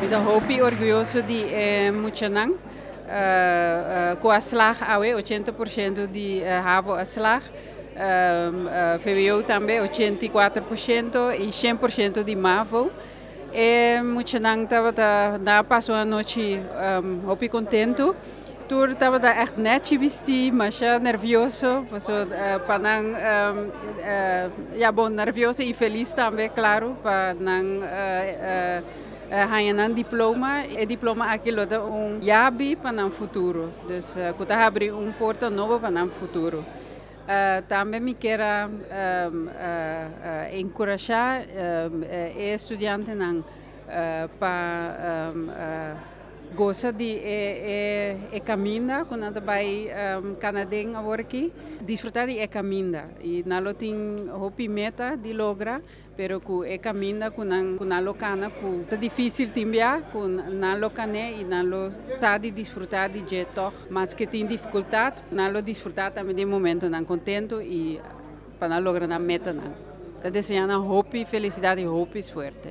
Mi ta hopi orguyoso di e muchanan ku a slag awe, ochenta por shento di havo a slag, vwo tambe ochenta i kuater por shento i shen por shento di mavo. E muchanan tabata na pas un anochi hopi contentu. Tur tabata echt nechi bisti, masha nervioso, paso pa nan ya bon nervioso y feliz tambe claro pa nan haya nan diploma. E diploma aki lo ta un yabi pa nan futuro, dus cu ta habri un porta nobo pa nan futuro. Tambe mi kier a enkurashá e studiantenan pa gosa di e kaminda ku nan ta bai kana den awor aki. Disfrutá di e kaminda i nan lo tin hopi meta di logra. Pero cu e caminda cu nan lo cana cu ta dificil tin bia cu nan lo cane y nan lo ta di disfruta di dje tog. Maske tin dificultad nan lo disfruta tambe di e momentonan contento y pa nan logra nan metanan. Ta deseanan hopi felicidad y hopi suerte.